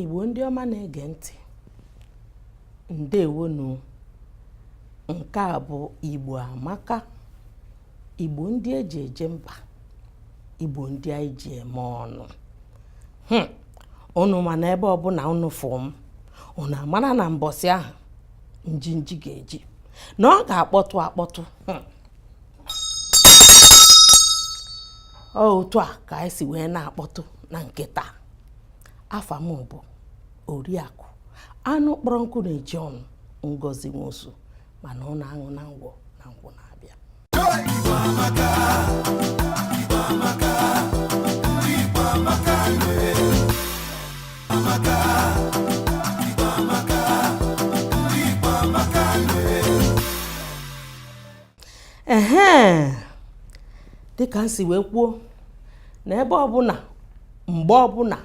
igbo ndị ọma na-ege ntị ndewonu nke a bụ igbo amaka Igbo ndị eji eje mba Igbo ndị anyị ji eme ọnụ hmm. unu ma na ebe ọbụla unu fụ m unu amara na mbọsị ahụ njinji ga-eji na ọ ga-akpọtụ akpọtụ hmm. otu a ka anyị si wee na-akpọtụ na nke taa afa m bụ oriakụ anụ kpọrọ nkụ na-eju ọnụ ngozi nwosu mana ọ na-aṅụ na ngwọ na nkwụ na-abịa ehe dịka m si wee kwuo na ebe ọbụla mgbe ọbụla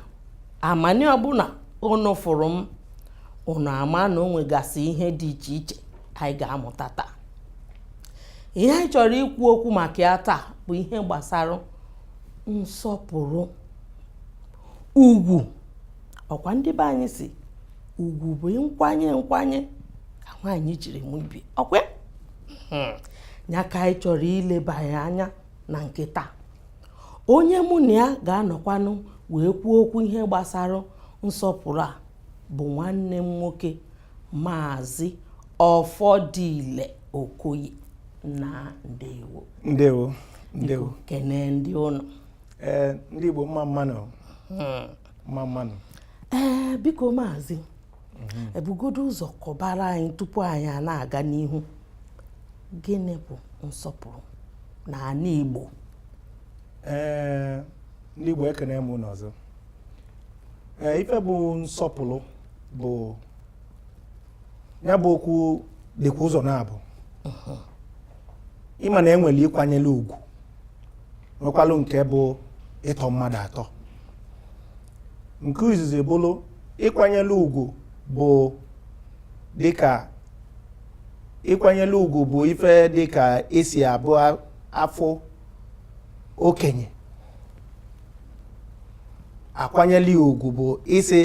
amani ọbụla unu fụrụ m unu ama na o nwegasị ihe dị iche iche anyị ga-amụta taa ihe anyị chọrọ ikwu okwu maka ya taa bụ ihe gbasara nsọpụrụ ugwu ọkwa ndị be anyị sị ugwu bụ nkwanye nkwanye ka nwaanyị jiri mụ ibe ọkwa hmm. ya ka anyị chọrọ ileba ya anya na nke taa onye mụ na ya ga-anọkwanụ wee kwuo okwu ihe gbasara nsọpụrụ a bụ nwanne m nwoke maazị ọfọdile okoye nna ndewo ndewo ndewo kene ndị ụnọ ee ndị igbo mma mma nụ hmm. mma mma nụ ee biko maazị mhm. ee bugodo ụzọ kọbara anyị tupu anyị a na-aga n'ihu gịnị bụ nsọpụrụ na ala Igbo ee ndị Igbo ekene m unu ọzọ ee ife bụ nsọpụrụ bụ ya bụ okwu dịkwa ụzọ naabọ mhm. ị ma na e nwere ịkwanyere ugwu nwekwalụ nke bụ ịtọ mmadụ atọ nke izizi bụrụ ịkwanyere ugwu bụ dịka ịkwanyere ugwu bụ ife dịka esi abụ a fụ okenye a kwanyere ya ugwu bụ ịsị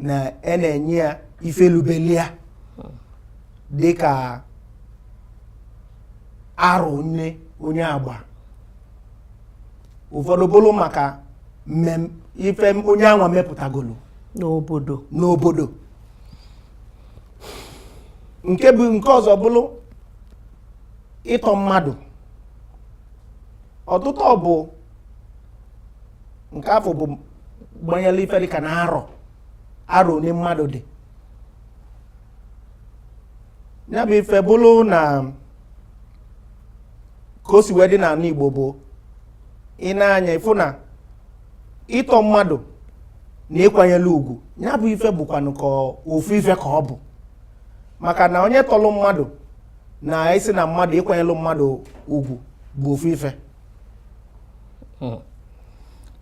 na e na-enye ya ife lubelu ya dịka arụ nne onye agba ụfọdụ bụlụ maka mmem ife m- onye anwa mepụtagolo n'obodo n'obodo nke bụ nke ọzọ bụlụ ịtọ mmadụ ọtụtụ ọ bụ nke afụ bụ gbanyelụ ife dịka na arọ arọ one mmadụ dị ya bụ ife bụlụ na ka o si wee dị n'anị Igbo bụ i nee anya ị fụ na ịtọ mmadụ na ịkwanyelụ ugwu nya bụ ife bụkwanụ ka ofu ife ka ọ bụ maka na onye tọlụ mmadụ na ịsị na mmadụ ịkwanyelụ mmadụ ugwu bụ ofu ife hmm.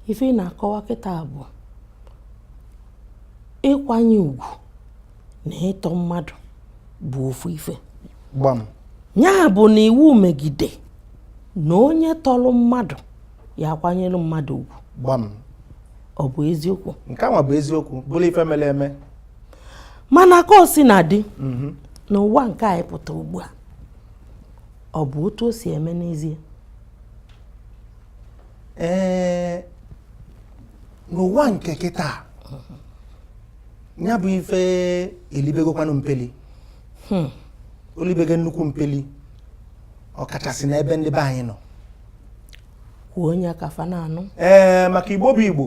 ife ị na-akọwa kịta bụ ịkwanye ugwu na ịtọ mmadụ bụ ofu ife gbam ya bụ na iwu megide na onye tọlụ mmadụ ya akwanyelụ mmadụ ugwu gbam ọ bụ eziokwu nke ahụ bụ eziokwu bụrụ ife mere eme mana ka o si na-adị mhm. n'ụwa nke anyị pụta ugbu a ọ bụ otu o si eme n'ezie ee n'ụwa nke kịta ya bụ ife elibegokwanụ mpeli hmm. olibego nnukwu mpeli ọkachasị n'ebe ndị be anyị nọ kwuo nya ka fa na-anụ ee eh, maka igbo bụ igbo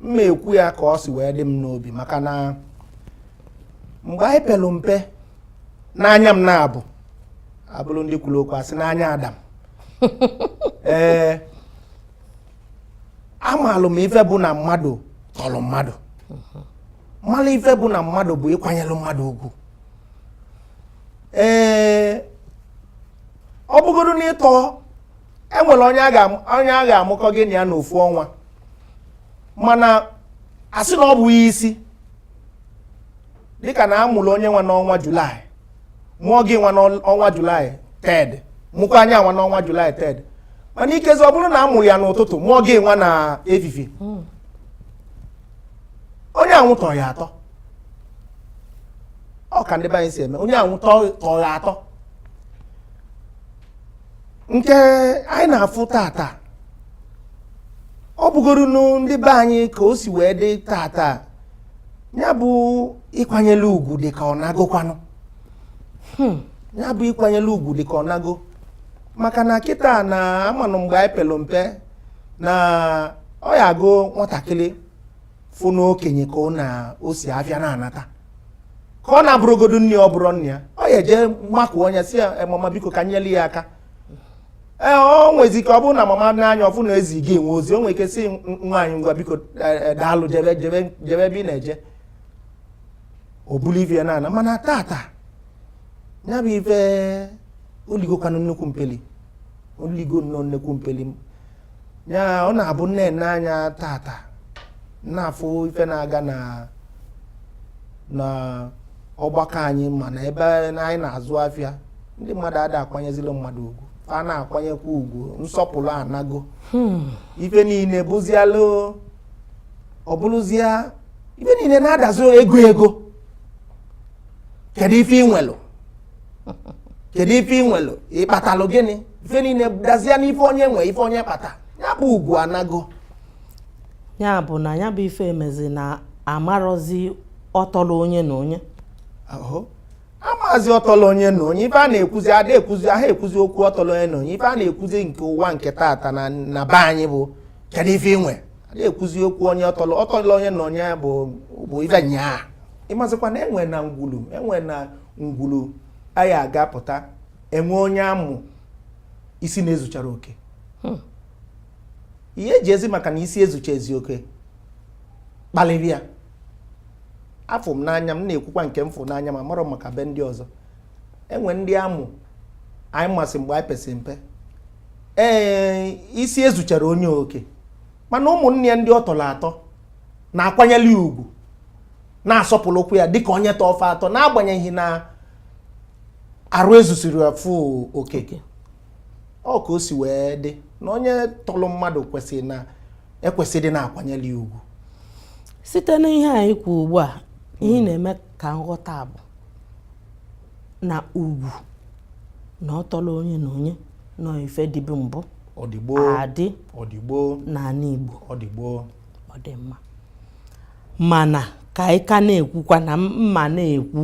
mma ekwu ya ka ọ si wee dị m n'obi maka na mgbe anyị pelu mpe n'anya m na-abụ abụrụ ndị kwulu okwu asị n'anya ada m ee eh, amalụ m ife bụ na mmadụ tọlụ mmadụ malụ ife bụ na mmadụ bụ ịkwanyelụ mmadụ ugwu ee ọ bụgodu na ịtọ e nwelu onye a ga- onye a ga-amụkọ gị na ya n'ofu ọnwa mana asị na ọ bụ ya isi dịka na a mụlụ onye anwa n'ọnwa July mụọ gị nwa n'ọnwa July third mụkwaa nya nwa n'ọnwa July third mana ikezi ọ bụrụ na a mụlụ ya n'ụtụtụ mụọ gị nwa na evivie hmm. onye anwụ tọrọ ya atọ ọ ka ndị be anyị si eme onye anwụ tọrọ ya atọ nke anyị na-afụ tata ọ bụgoro ndị be anyị ka o si wee dị tata nya bụ ịkwanyelụ ugwu dị ka ọ naagokwanụ hmm. nya bụ ịkwanyelụ ugwu dị ka ọ naago maka na kịta na amanụ mgbe anyị pelu mpe na ọ ya abụ nwatakịrị fụ n'okenye ka ọ na o si afịa na-anata ka ọ na-abụrọgodu nne ọ bụrọ nne ya ọ ya eje makụọ onye sị ya mama biko ka nyelu ya aka ee ọ nwezi ike ọ bụrụ na mama n'anya ọ fụ na ezi gị enwe ozi o nwere ike sị nwaanyị ngwa biko eh, eh, daalụ jebe jebe jebe ebe ị na-eje o bulu ife ya na-ana mana taata ya bụ ife o ligokwanụ nnekwu mpeli o ligo nnọọ nnekwu mpeli ya ọ na-abụ m nene anya taata na-afụ ife na-aga na na ọgbakọ anyị ma n'ebe anyị na-azụ afịa ndị mmadụ ada akwanyezilu mmadụ ugwu a na-akwanyekwa ugwu nsọpụlụ anago hmm. ife niine bụzịalụ ọ bụlụzịa ife niine na-adazi ego ego kedu ife i nwelu kedu ife i nwelu ị kpatalụ gịnị ife niine dazie n'ife onye nwe ife onye kpata ya bụ ugwu anago ya bụ na ya bụ ife emezi na amarọzi ọtọlụ onye na onye amarọzi ọtọlụ onye na onye ife a na-ekwuzi ada ekwuzi aha ekwuzi okwu ọtọlụ onye na onye ife a na-ekwuzi nke ụwa nke taata na be anyị bụ kedu ife ị nwere na-ekwuzi okwu onye ọtọlụ ọtọlụ onye na onye bụ bụ ife nnyaa ị mazikwa na enwe na ngwulu enwe na ngwulu anyị a gapụta e nwe onye a mụ isi na-ezucharọ oke hmm. ihe eji ezi maka na isi ezucha ezi oke kpalịba ya afụ m n'anya m na-ekwukwa nke m fụ n'anya m amarọ m maka be ndị ọzọ e nwe ndị a mụ anyị masị mgbe anyị pesi mpe ee isi ezucharọ onye oke mana ụmụnne ya ndị ọ tọlụ atọ na-akwanyeli ya ugwu na-asọpụlụkwu ya dịka onye tọ fa atọ n'agbanyeghị na arụ ezusiri afụ okeke ọ ka o si wee dị na onye tọlụ mmadụ kwesịrị na ekwesịrị na-akwanyeli ya ugwu site n'ihe anyị kwu ugbu a ihe hmm. na-eme ka m ghọta bụ na ugwu na ọ tọlụ onye na onye na ọ ife dịbu mbụ adị n'anị Igbo ọ dị mma mana ka anyị ka na-ekwukwa na mụ na-ekwu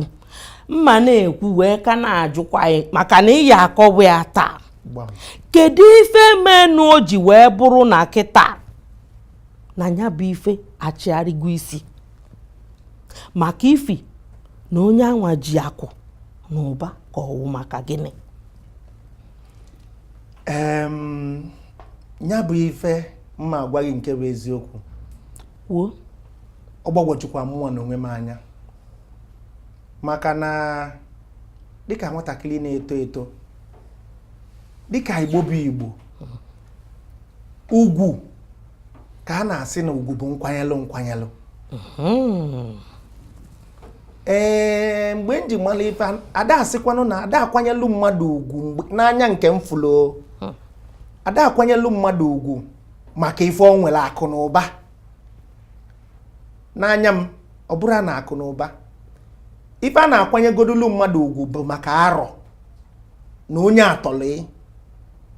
mụ na-ekwu wee ka na-ajụkwa gị maka na ị ya-akọwa ya taa kedu ife menụ o ji wee bụrụ na kịta na ya bụ ife achigharịgo isi maka ifi na onye anwa ji akụ na ụba ka ọ wụ maka gịnị ya bụ ife m ma-agwa gị nke bụ eziokwu kwuo ọ gbagwojukwa mụnwa na onwe m anya maka na dịka nwatakịrị na-eto eto dịka igbo bụ igbo ugwu ka a na-asị na ugwu bụ nkwanyelụ nkwanyelụ hmm. ee mgbe m ji mara ife ada asịkwanụ na ada akwanyelụ mmadụ ugwu n'anya nke m fụlụ hmm. ada akwanyelụ mmadụ ugwu maka ife o nwere akụ na ụba n'anya m ọ bụrụ na akụ na ụba ife a na-akwanyegodolu mmadụ ugwu bụ maka arọ na onye a tọlị ị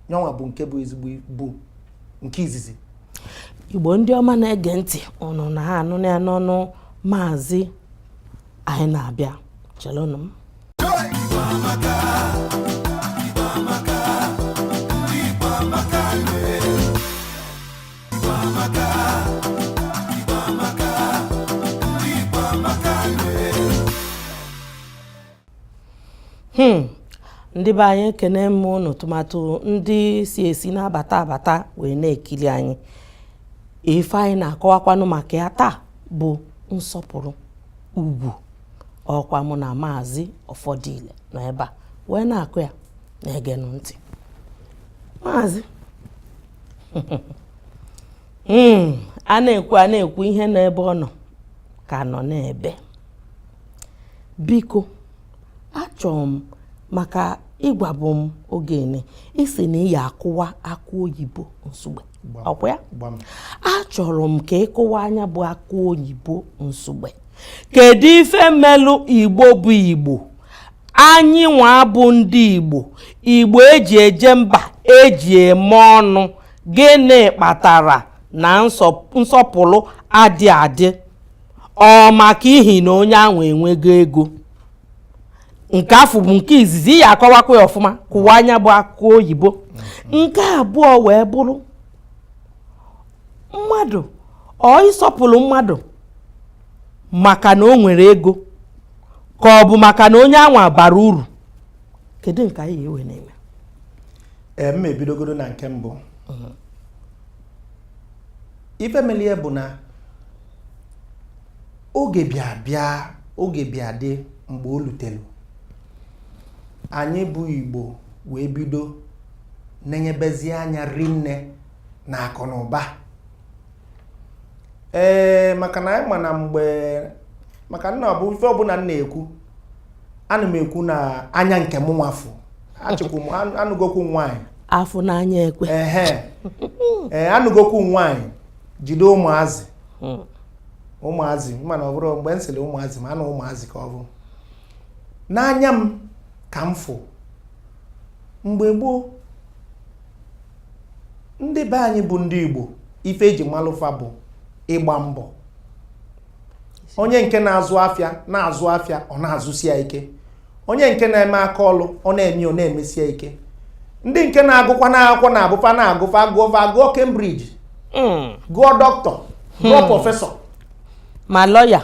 nyanwa bụ nke bụ izi bụ nke izizi igbo ndị ọma na-ege ntị ụnụ na-anụ ya n'ọnụ maazị anyị na-abịa chelụnụ m Hmm. ndị be anyị ekene m ụnụ tụmatụ ndị si esi na-abata abata wee na-ekiri anyị ife anyị na-akọwakwanụ maka ya taa bụ nsọpụrụ ugwu ọkwa mụ na maazị ọfọdile nọ ebe a wee na-akụ ya na-egenụ ntị maazị hmm, a na-ekwu a na-ekwu ihe nọ ebe ọ nọ ka nọ n'ebe biko achọrọ m maka ị gwabu m oge nị ị sị na ị ya akụwa akụ oyibo nsugbe ọkwa ya achọrọ m ka ị kụwaa nya bụ akụ oyibo nsugbe kedu ife melụ igbo bụ igbo anyị nwa bụ ndị igbo igbo eji eje mba eji eme ọnụ gịnị kpatara na nsọpụrụ adị adị ọ maka ihi na onye ahụ enwego ego nke afụ bụ nke izizi ị ya akọwakwa ya ọfụma kụwaa nya bụ akụ oyibo nke abụọ wee bụrụ mmadụ ọ ịsọpụrụ mmadụ maka na o nwere ego ka ọ bụ maka na onye anwa bara uru kedu nke anyị ga-ewe na-eme ee m ebidogoro na nke mbụ ife melie bụ na oge bịa bịa oge bịa dị mgbe o lutelu anyị bụ igbo wee bido na-enyebezi anya rinne na akụ na ụba ee maka na anyị ma na mgbe maka na ọ bụ ife ọbụna m na-ekwu ana m ekwu na anya nke mụnwa afụ achịkwu m anụgokwu nwaanyị afụ n'anya ekwe ee eh, anụgokwu nwaanyị jide ụmụazị hmm. ụmụazị mana ọ bụrụ mgbe m sịlị ụmụazị ma anụ ụmụazị ka ọ bụ n'anya m ka m fụ mgbe gboo ndị be anyị bụ ndị Igbo ife eji malụ fa bụ ịgba mbọ onye nke na-azụ afịa na-azụ afịa ọ na-azụsi ya ike onye nke na-eme aka ọlụ ọ na-eme ọ na-emesi ya ike ndị nke na-agụkwa na akwụkwọ na-abụ fa na-agụ fa agụọ fa agụọ Cambridge hmm. gụọ doctor gụọ hmm. professor ma lawyer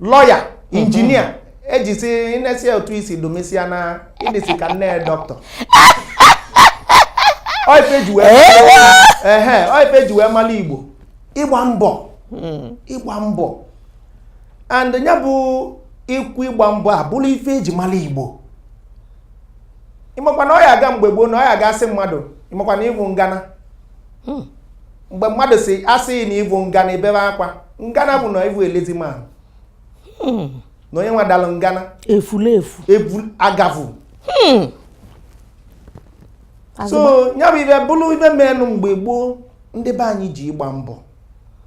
lawyer hmm. engineer ejisi inesi otu isi domesia na ị dịsi ka nne doctor ọ ife eji wee mala igbo ịgba mbọ hmm. ịgba mbọ and ya bụ ikwu ịgba mbọ abụlụ ife eji mala igbo ị makwa na ọ ya aga mgbe gboo na ọ ya aga asị mmadụ ị makwa na ị vụ ngana hmm. mgbe mmadụ si asị na ị vụ ngana ebebe akwa ngana bụ na ị vụ a lazy man hmm. na onye nwa dalụ ngana efulefu agavụ so ya bụ ife bụlụ ife menụ mgbe gboo ndị be anyị ji ịgba mbọ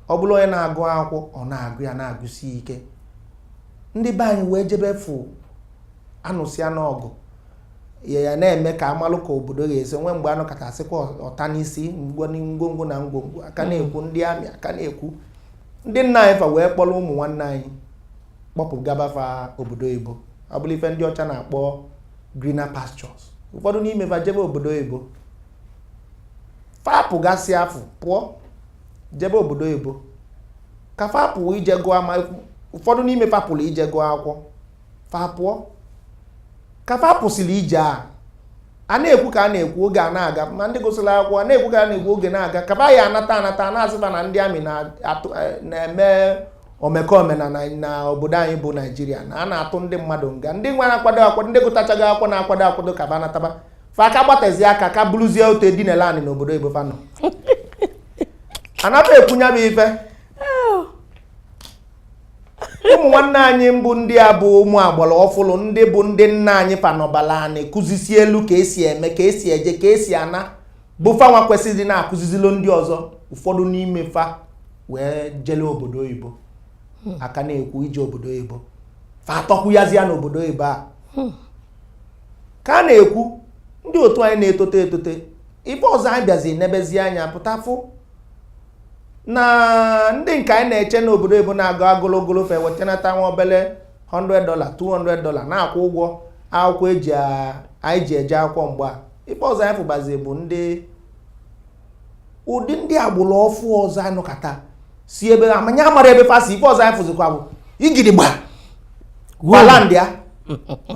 ọ bụlụ onye na-agụ akwụkwọ ọ na-agụ ya na-agụsi ike ndị be anyị wee jebe fụ anụsịa n'ọgụ ya ya na-eme ka amalụ ka obodo ga-esi nwee mgbe anọkata asịkwa ọta n'isi ngwongwo na ngwongwo a ka na-ekwu ndị army a ka na-ekwu ndị nna anyị fa wee kpọlụ ụmụ nwanne anyị kpọpụgaba fa obodo oyibo ọ bụlụ ife ndị ọcha na-akpọ greener pastures ụfọdụ n'ime fa jebe obodo oyibo fa pụgasị afụ pụọ jebe obodo oyibo ka fa pụ ije gụọ ma ụfọdụ n'ime fa pụlụ ije gụọ akwụkwọ fa pụọ ka fa pụsịlị ije a a na-ekwu ka a na-ekwu oge a na-aga ma ndị gụsịlị akwụkwọ a na-ekwu ka a na-ekwu oge na-aga ka ba ya anata anata na-asị ba na ndị army eh, na-eme omekome na obodo anyị bụ Nigeria na a na-atụ ndị mmadụ nga ndị nwa na-akwado akwado ndị gụtachaghị akwụkwọ na-akwado akwado ka ba nataba fa aka gbatazi aka ka bụlụzie otu edinela anị n'obodo oyibo fa nọ anata ekwu nya bụ ife ụmụ nwanne anyị mbụ ndị a bụ ụmụ agbala ọfụlụ ndị bụ ndị nna anyị fa nọbalụ anị kụzisielụ ka esi eme ka esi eje ka esi ana bụ fanwa kwesịlị na-akụzizilụ ndị ọzọ ụfọdụ n'ime fa wee jele obodo oyibo hmm. a ka na-ekwu ije obodo oyibo fa atọkwuyazia n'obodo oyibo a hmm. ka a na-ekwu ndị otu anyị na-etote etote ife ọzọ anyị bịazi nebezi anya pụtafụ na ndị nke anyị na-eche n'obodo oyibo na-agụ agụlogolo fa ewetanata nwa obele 100 dola 200 dola na-akwụ ụgwọ akwụkwọ anyị ji eje akwụkwọ mgbe a ife ọzọ anyị fụbazi bụ ndị ụdị ndị agbụrụ ọfụụ ọzọ anyị nọkata si ebe amanya amarọ ebe fa si ife ọzọ anyị fụzikwa bụ igidigba gwala ndị a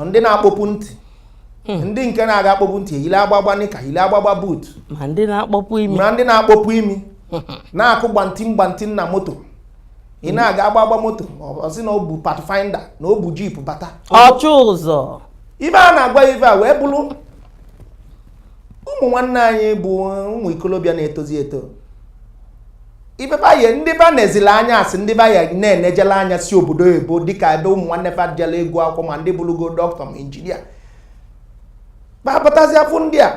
ndị na-akpọpụ ntị Hmm. ndị nke na-aga akpọpụ ntị eyile agbagba nịka yile agbagba buut ma ndị na-akpọpụ imi na-akụ gbanti gbanti na moto ị na-aga agbagba moto ọ sị na ọ bụ pathfinder na ọ bụ jip bata ọchụ ụzọ ive a na-agwa ive a wee bụrụ ụmụ nwanne anyị bụ ụmụ ikolobịa na-etozi eto ndị be anyị ndị ba na-ezila anya a sị ndị be anyị na-enejela anya si obodo oyibo dịka ebe ụmụ nwanne fa jela ịgụ akwụkwọ ma ndị bụrụgo dọkịta ma injinia babatazi afụ ndị a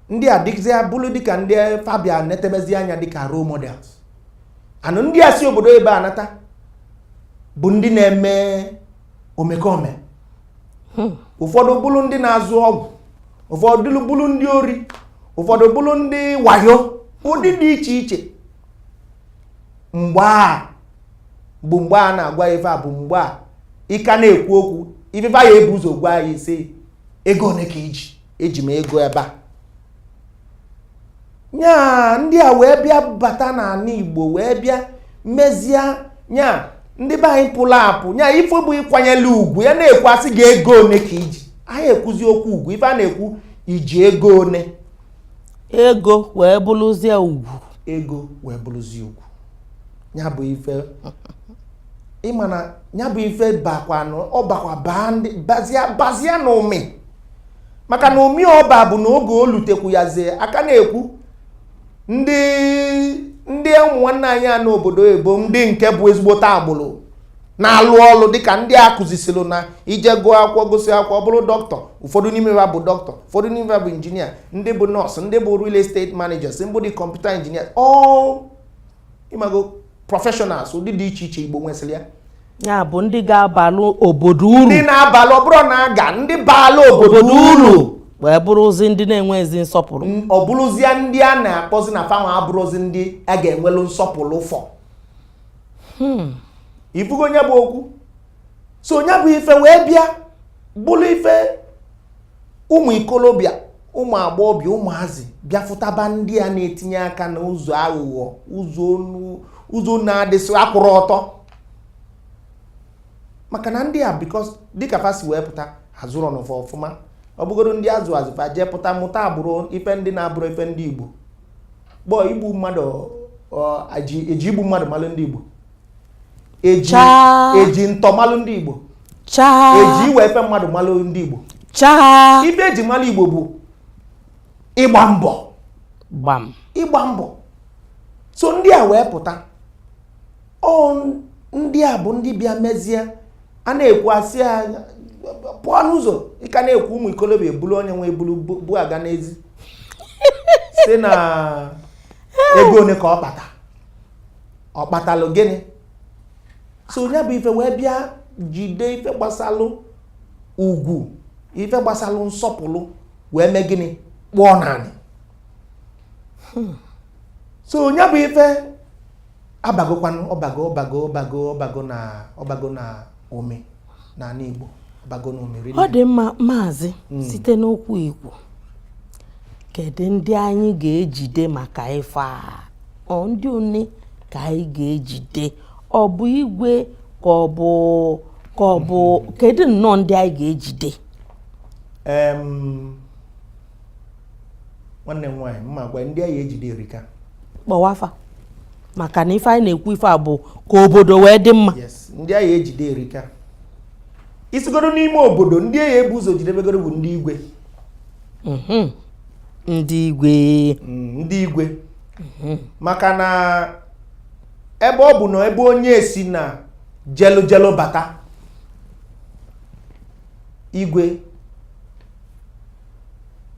ndị a dịzi abụlụ dịka ndị fa bịa netebezi anya dịka role models and ndị a si obodo oyibo anata bụ ndị na-eme omekome hmm. ụfọdụ bụrụ ndị na-azụ ọgwụ ụfọdụ bụrụ ndị ori ụfọdụ bụrụ ndị wayo ụdị dị iche iche mgbe a bụ mgbe a na-agwa ife a bụ mgbe ị ka na-ekwu okwu ndị be anyị ebu ụzọ gwa gị sị ego one ka i ji eji m ego ebe a nya ndị a wee bịa bata n'anị igbo wee bịa mezie nya ndị be anyị pụrụ apụ nya ife bụ ịkwanyere ugwu ya na-ekwu a sị gị ego one ka i ji anyị ekwuzi okwu ugwu ife a na-ekwu i ji ego one ego wee bụrụzie ugwu ego wee bụrụzie ugwu nya bụ ife ị ma na nya bụ ife bakwanụ ọ bakwa baa ndị bazia n'ụmị maka na ụmị ọ ba bụ na oge o lutekwu ya zie a ka na-ekwu ndị ụmụ nwanne anyị a nọ obodo oyibo ndị nke bụ ezigbote agbụrụ na-alụ ọlụ dịka ndị a kụzisiri na i je gụọ akwụkwọ gụsịa akwụkwọ bụrụ dọkịta ụfọdụ n'ime fa bụ dọkịta ụfọdụ n'ime fa bụ injinia ndị bụ nọọsụ ndị bụ real estate managers ndị bụ kọmputa injinia all ị mago professionals ụdị dị iche iche igbo nwesịrị ya bụ ndị ga-abalụ obodo uru ndị na-abalụ ọ bụrụ na aga ndị baala obodo uru wee bụrụzi ndị na-enwezi nsọpụrụ ọ bụrụzie ndị a na-akpọzi na fa nwa abụrụzi ndị a ga-enwelu nsọpụrụ fọ hmm. ị fụgo nya bụ okwu so nya bụ ife wee bịa bụrụ ife ụmụ ikolobịa ụmụ agbọghọbịa ụmụazị bịafụtaba ndị a na-etinye aka n'ụzọ aghụghọ ụzọ na-adịsị akwụrụ ọtọ maka na ndị a because dịka fa si wee pụta azụrọnụ fa ọfụma ọ bụgodu ndị azụ azụ fa jee pụta mụta agbụrụ ife ndị na-abụrọ ife ndị Igbo gboo igbu mmadụ eji igbu mmadụ malụ ndị Igbo eji Chaa. eji ntọ malụ ndị igbo chaa eji iwe ife mmadụ malụ ndị igbo chaa ife eji malụ igbo bụ ịgba mbọ ịgba mbọ so ndị a wee pụta ọ ndị a bụ ndị bịa mezie a na-ekwu asị ya pụọ n'ụzọ ị ka na-ekwu ụmụ ikolobịa ebulu onye nwe ebulu bu aga n'ezi sị na ego one ka ọ kpata ọ kpatalụ gịnị so nya bụ ife wee bịa jide ife gbasalụ ugwu ife gbasalụ nsọpụrụ wee mee gịnị kpọọ n'anị hmm. so nya bụ ife abagokwanụ ọ bago na ọ bago na ome n'ala Igbo bago n'omeri ọ dị mma maazị hmm. site n'okwu i kwu kedu ndị anyị ga-ejide maka ife a ọ ndị one ka anyị ga-ejide ọ bụ igwe ka ọ bụ ka ọ bụ hmm. kedu nnọọ ndị anyị ga-ejide nwanne m nwaanyị mma gwa ndị a ya-ejide erika kpọwa afa maka na ife anyị na-ekwu ife a bụ ka obodo wee dị mma ndị a ya-ejide erika i sigodo n'ime obodo ndị a ya-ebu ụzọ jidebegodo bụ ndị igwe mhm. ndị igwe mm, ndị igwe mhm. maka na ebe ọ bụ na ebe onye si na jelu jelu bata igwe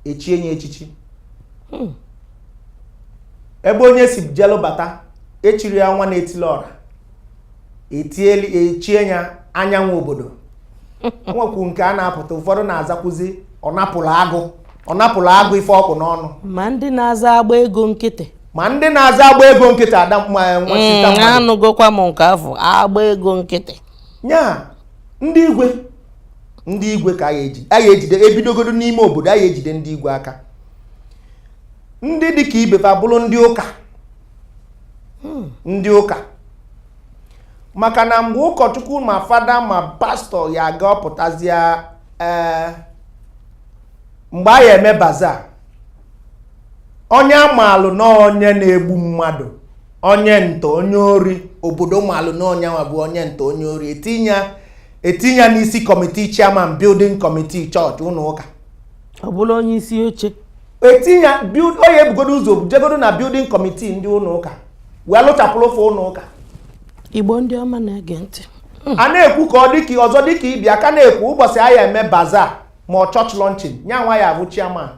echie nya echichi hmm. ebe onye si jelu bata echie ya nwa na-etili ọra echie ya anyanwụ obodo nwekwu nke a na-apụta ụfọdụ na-azakwuzi ọ napụrụ agụ ọ napụrụ agụ ife ọkụ n'ọnụ ma ndị na-aza agba ego nkịtị ma ndị na-aza agba ego nkịtị ada mm, anụgokwa m nke afụ agba ego nkịtị nya ndị igwe ndị igwe ka a ya-ejide a ya-ejide ebidogodo n'ime obodo a ya-ejide ndị igwe aka ndị dị ka ibe fa abụrụ ndị ụka hmm. ndị ụka maka na mgbe ụkọchukwu ma fada ma pastọ ya-aga ọ pụtazịa ee eh, mgbe a ya-eme baza onye a maalụ na onye na-egbu mmadụ onye ntọ onye ori obodo maalụ na onye nwa bụ onye ntọ onye ori etinye etinye ya n'isi kọmitii chairman building committee chọọchị ụlọ ụka ọ bụla onye isi oche etinye onye ebugodo ụzọ jegodo na building committee ndị ụlọ ụka wee lụchapụrụ fa ụlọ ụka Igbo ndị ọma na-ege ntị hmm. a na-ekwu ka ọ dịka ọzọ dịka ife a ka na-ekwu ụbọchị a ya-eme baza ma ọ chọọchị lọnchin nya nwa ya-abụ chairman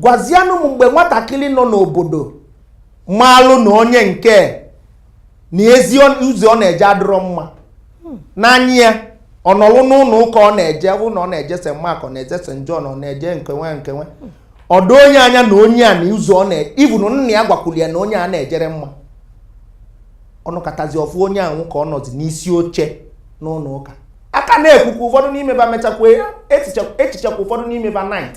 gwazianụ m mgbe nwatakịrị nọ n'obodo maalụ na onye nke na ezi ụzọ ọ na-eje adịrọ mma n'anya ya ọ nọlụ n'ụlọ ụka ọ na-eje bụ na ọ na-eje St. Mark ọ na-eje St. John ọ na-eje nkenwe nkenwe o doo nya anya na onye a na ụzọ ọ na even nna ya gwakwuru ya na onye a na-ejerọ mma ọ nọkatazi ọ fụ onye ahụ ka ọ nọzi n'isi oche n'ụlọ ụka a ka na-ekwukwa ụfọdụ n'ime ba mechakwa echichakwa ụfọdụ n'ime ba knight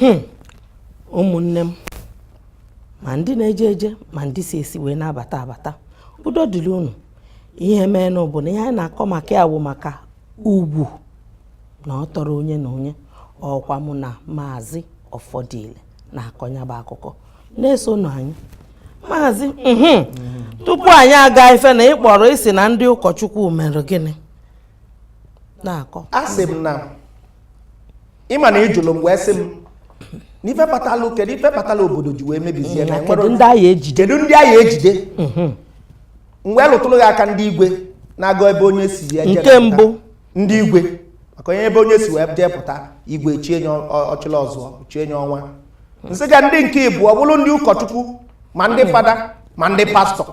hmm. ụmụnne m ma ndị na-eje eje ma ndị si esi wee na-abata abata udo dịrị unu ihe meenụ bụ na ihe anyị na-akọ maka ya bụ maka ugwu na ọ tọrọ onye na onye ọ kwa mụ na maazị Ọfọdile na-akọ ya bụ akụkọ na-esonụ anyị maazị mhm. tupu anyị agafee na ị kpọrọ ị sị na ndị ụkọchukwu mere gịnị na-akọ asị m na ị ma na ị jụrụ m wee sị m n'ife kpatalụ kedu ife kpatalụ obodo ji wee mebizie na enwere kedu ndị a ya-ejide kedu ndị a ya-ejide m wee lụtụrụ gị aka ndị igwe na-agụ ebe onye si ya jee Nke pụta. mbụ. ndị igwe maka onye ebe onye si wee jee pụta igwe chie nya ọ- Ọchịlịọzụọ chie nya Ọnwa nsị ka ndị nke ịbụọ bụrụ ndị ụkọchukwu ma ndị fada ma ndị pastọ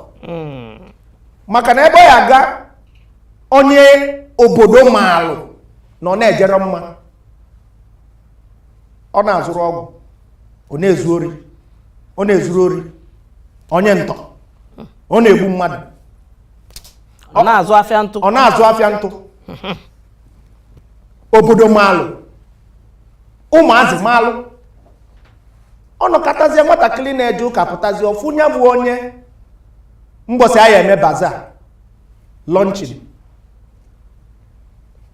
maka na ebe ọ ya-aga onye obodo maalụ na ọ na-ejerọ mma ọ na-azụrụ ọgwụ ọ na-ezu ori ọ na-ezuru ori onye ntọ ọ na-egbu mmadụ ọ na-azụ afịa ntụ ọ na-azụ afịa ntụ obodo maalụ ụmụazị maalụ ọ nọkatazie nwatakịrị na-eje ụka pụtazie ọ fụ nya bụ onye mbọsị a ya-eme baza lọnchin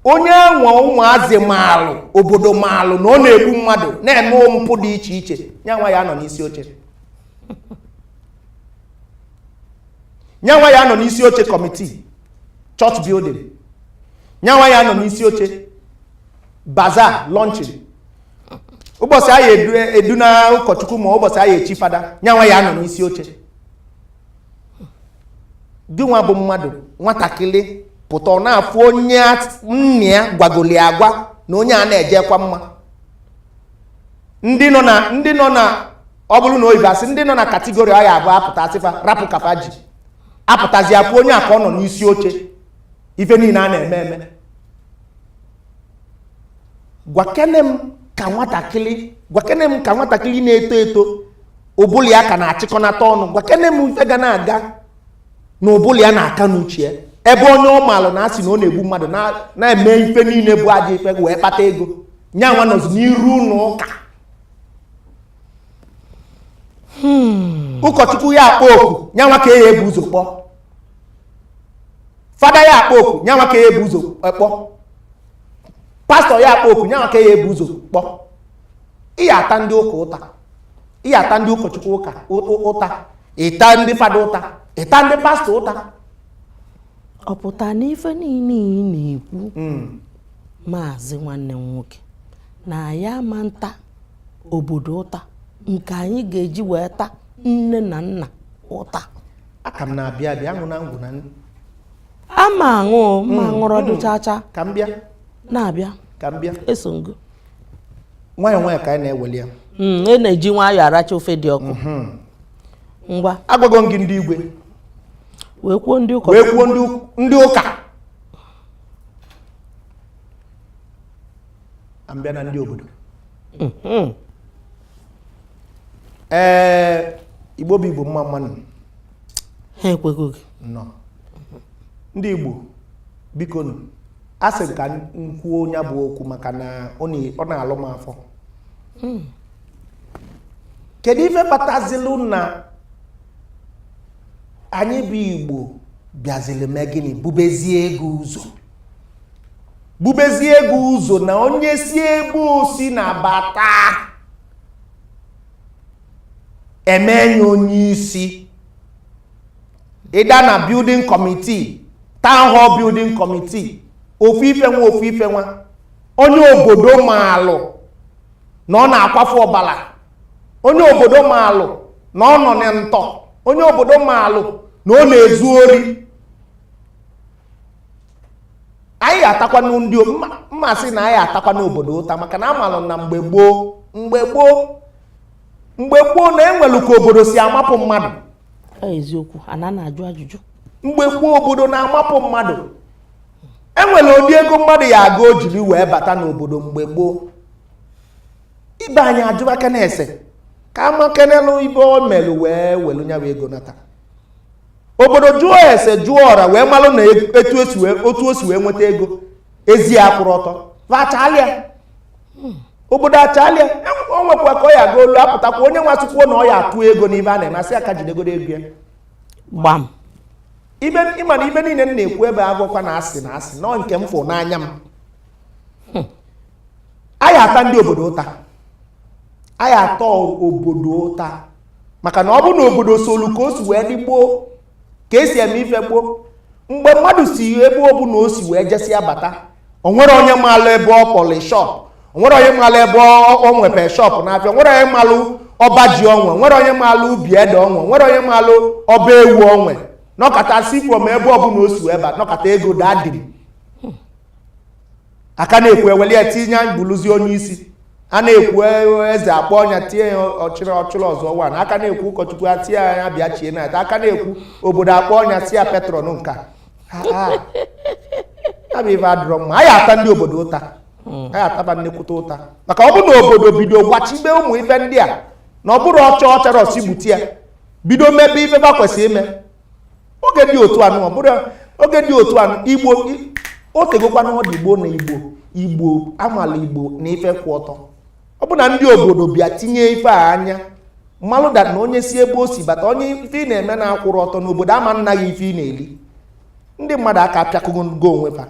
onye nwa ụmụazị maalụ obodo maalụ na ọ na-egbu mmadụ na-eme mpụ dị iche iche ya nwa ya anọ n'isi oche ya nwa ya anọ n'isi oche committee church building ya nwa ya anọ n'isi oche bazaar launching ụbọsị a ya eduna ụkọchukwu ma ụbọsị a ya echi fada ya nwa ya anọ n'isi oche gị nwa bụ mmadụ nwatakịrị pụta ọ na-afụ onye nna ya gwagoli agwa na onye a na-ejekwa mma ndị nọ na ndị nọ na ọ bụrụ na oyibo a sị ndị nọ na category ọ ya abụ a pụta a sị fa rapụ ka fa ji apụtazi afụ onye a ka ọ nọ n'isi oche ife niile a na-eme eme gwakene m ka nwatakịrị gwakene m ka nwatakịrị na-eto eto ụbụlụ ya ka na-achịkọnata ọnụ gwakene m ife ga na-aga na ụbụlụ ya na-aka n'uche ya ebe onye ọ maalụ na a sị na ọ na-egbu mmadụ na-eme ife niile bụ ajọ ife wee kpata ego nya nwa nọzi n'iru ụlọ ụka hmm. ụkọchukwu ya akpọ oku nya nwa ka a ya ebu ụzọ kpọ fada ya akpọ oku nya nwa ka a ya ebu ụzọ eh, kpọ pastọ ya akpọ oku nya nwa ka a ya ebu ụzọ kpọ ị ya ata ndị ụka ụta ị ya ata ndị ụkọchukwu ụta ị ta ndị fada ụta ị ta ndị pastọ ụta ọ pụta na ife niile ị na-ekwu hmm. maazị nwanne m nwoke na anyị ama nta obodo ụta nke anyị ga-eji wee ta nne na nna ụta a ka m na-abịa abịa aṅụ na ngwụ na ama aṅụ ma hmm, aṅụrụ hmm. ọdụ chacha ka m bịa na-abịa ka m bịa eso ngo nwayọọ nwayọọ ka anyị na-eweli ya Mm, e na-eji nwayọọ aracha ofe dị ọkụ ngwa agwago m gị ndị igwe wee kwuo ndị ụkọ wee kwuo ndị ụk- ndị ụka ka m bịa na ndị obodo ee igbo bụ igbo mma mma nụ ha ekwego gị nọ ndị igbo biko nụ a sị m ka m kwuo nya bụ okwu maka na ọ na- ọ na-alụ m afọ kedu ife kpatazilu na anyị bụ igbo bịazili mee gịnị bubezie ego ụzọ bubezie ego ụzọ na onye si ebe o si nabata e mee nya onye isi ịda na building committee town hall building committee ofu ife nwa ofu ife nwa onye obodo maalụ na ọ na-akwafu ọbala onye obodo maalụ na ọ nọ na ntọ onye obodo maalụ na ọ na-ezu ori anyị ya atakwanụ ndị mmasị na a ya atakwanụ obodo ụta maka na a malụ na mgbe gboo mgbe gboo mgbe gboo na e nwelu ka obodo si amapụ mmadụ eziokwu a na na-ajụ ajụjụ mgbe gboo obodo na-amapụ mmadụ e nwere ụdị ego mmadụ ya aga o jiri wee bata n'obodo mgbe gboo ibe anyị ajụbakene ese ka a makenelu ife o melu wee welu nyawa ego nata obodo jụọ ese jụọ ọra wee malụ na etu e si wee otu o si wee nweta ego ezi akwụrọ ọtọ va achalịa obodo achalịa o nwekwa ka ọ ya aga olu apụtakwa onye nwa sịkwuo na ọ ya atụ ego n'ife a na-eme a sị ya ka o jidegodo ego ya gbam ibe ị ma na ife niile m na-ekwu ebe agwọkwa na a sị na a sị na ọ nke m fụ n'anya m a ya ata ndị obodo ụta a ya ata obodo ụta maka na ọ bụ na obodo solu ka o si wee dị gboo ka e si eme ife gboo mgbe mmadụ si ebe ọ bụla o si wee jesịa bata o nwere onye maalụ ebe ọ kpọlụ shop o nwere onye maalụ ebe ọ nwepe shop n'afịa o nwere onye maalụ ọba ji o nwe o nwere onye maalụ ubi ede o nwe o nwere onye maalụ ọba ewu o nwe nọkata si from ebe ọ bụla o si wee bata nọkata ego daa dim a ka na-ekwu e weli ya tinye ya bụrụzi onye isi a na-ekwu e, eze akpọọ nya tinye ya o chiri o chiri ọzọ one a ka na-ekwu ụkọchukwu e tinye ya bịa chie knight a ka na-ekwu obodo akpọọ nya sị ya patron nka abụ ife adịrọ mma a ya ata ndị obodo ụta hmm. a ya ata ba nnekwute ụta maka ọ bụ na obodo bido gbochibe ụmụ ife ndị a na ọ bụrụ ọcha ọchara ọsi gbuti ya bido mebe ife ba kwesịrị ime oge dị otu anụ ọ bụrụ oge dị otu anụ igbo o tegokwa na ọ dị igbo na igbo igbo a malụ igbo na ife kwụ ọtọ ọ bụ na ndị obodo bịa tinye ife a anya malụ that na onye si ebe o si bata onye ife ị na-eme na akwụrọ ọtọ na obodo ama ana gị ife ị na-eli ndị mmadụ aka apịakụgo ngo onwe fa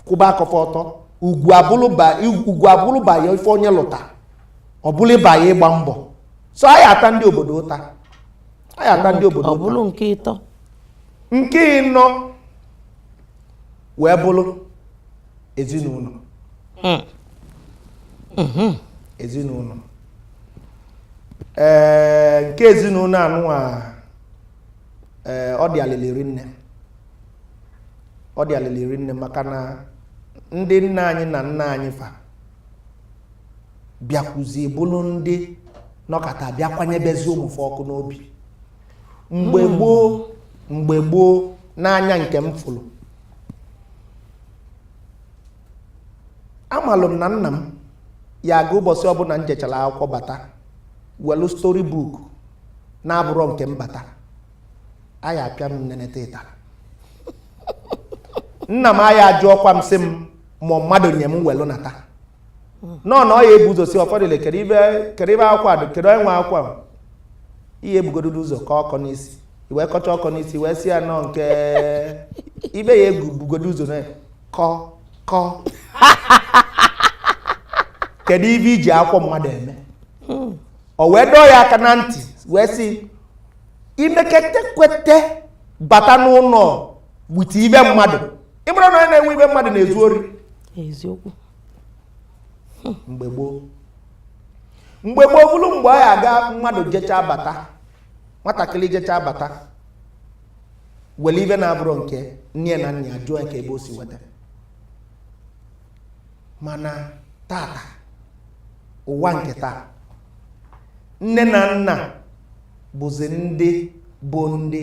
kwụba aka fa ọtọ ugwu abụrụba ya ife onye lụta ọ bụrụba ya ịgba mbọ so a ya ata ndị obodo ụta a ya ata ndị obodo ọ bụrụ nke ịtọ nke ịnọ wee bụrụ ezinụnọ hmm. Hmm. ezinụnọ ee eh, nke ezinụnọ anụnwa ee eh, ọ dị alịlị rinne ọ dị alịlị rinne maka na ndị nne anyị na nna anyị fa bịakwuzie bụrụ ndị nọkata bịa kwanyebezi ụmụ fa ọkụ n'obi mgbe gboo mgbe gboo n'anya nke m fụrụ amalụ m na nna m ya aga ụbọchị ọbụla m jechara akwụkwọ bata welu story book na-abụrọ nke m bata aya apịa m neneta ịtarị nna m aya ajụọkwa m sị m ma mmadụ nye m welu nata ụnọ na ọ ya ebu ụzọ sị ụfọdụ ile kedu ibe kedu ibe akwụkwọ a kedu onye nwe akwụkwọ a ihe ebugodo ụzọ ka ọkọ n'isi e wee kọcha ọkọ n'isi wee sị ya nọ nke ibe ya ebugodo ụzọ na kọ kọ kedu ibe i ji akwụkwọ mmadụ eme o wee dọọ ya aka na ntị wee sị i mekete kwete bata n'ụlọ with ibe mmadụ ị mara na onye na-ewe ibe mmadụ na-ezu ori eziokwu mgbe gboo mgbe gboo bụrụ mgbe ọ ya aga mmadụ jechaa bata nwatakịrị jechaa bata were ibe na-abụrọ nke nne na nna ajụọ kee ebe o si weta mana tata ụwa nke taa nne na nna bụzi ndị bụ ndị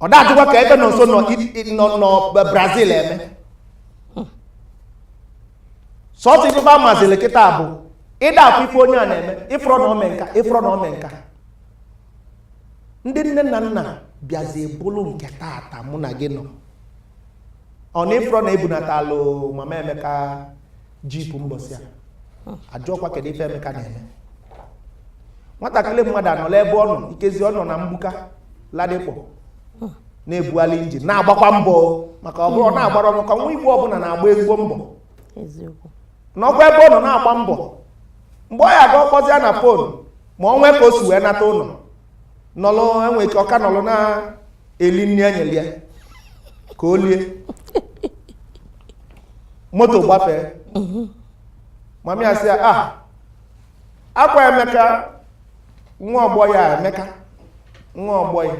ọ da ajụkwa kee ife Nọnso nọ Brazil eme sọsọ ife ba mazili kịta bụ ị da afụ ife onye a na-eme ị fụrọ na o me nka ị fụrọ na o me nka ndị nne na nna bịazi bụrụ nke tata mụ na gị nọ ọ na ị fụrọ na e bunatalụ mama Emeka jeep mbọsị a ajụọkwa kedu ife Emeka na-eme nwatakịrị mmadụ anọla ebe ọ nọ ikezi ọ nọ na mgbuka Ladipo na-ebugharị injin na-agbakwa mbọ maka ọ bụrụ na-agbara ọnụ ka nwa igbo ọbụla na-agba ezigbo mbọ nọkwa ebe ọ nọ na-agba mbọ mgbe ọ ya aga ọ kpọzi ya na phone ma o nwee ka o si wee nata ụnọ nọlụ e nwee ike ọ ka nọlụ na eli nri e nyelụ ya ka o lie moto gbafee mummy asị ya ah ọkwa Emeka nwa ọgbọ ya Emeka nwa ọgbọ ya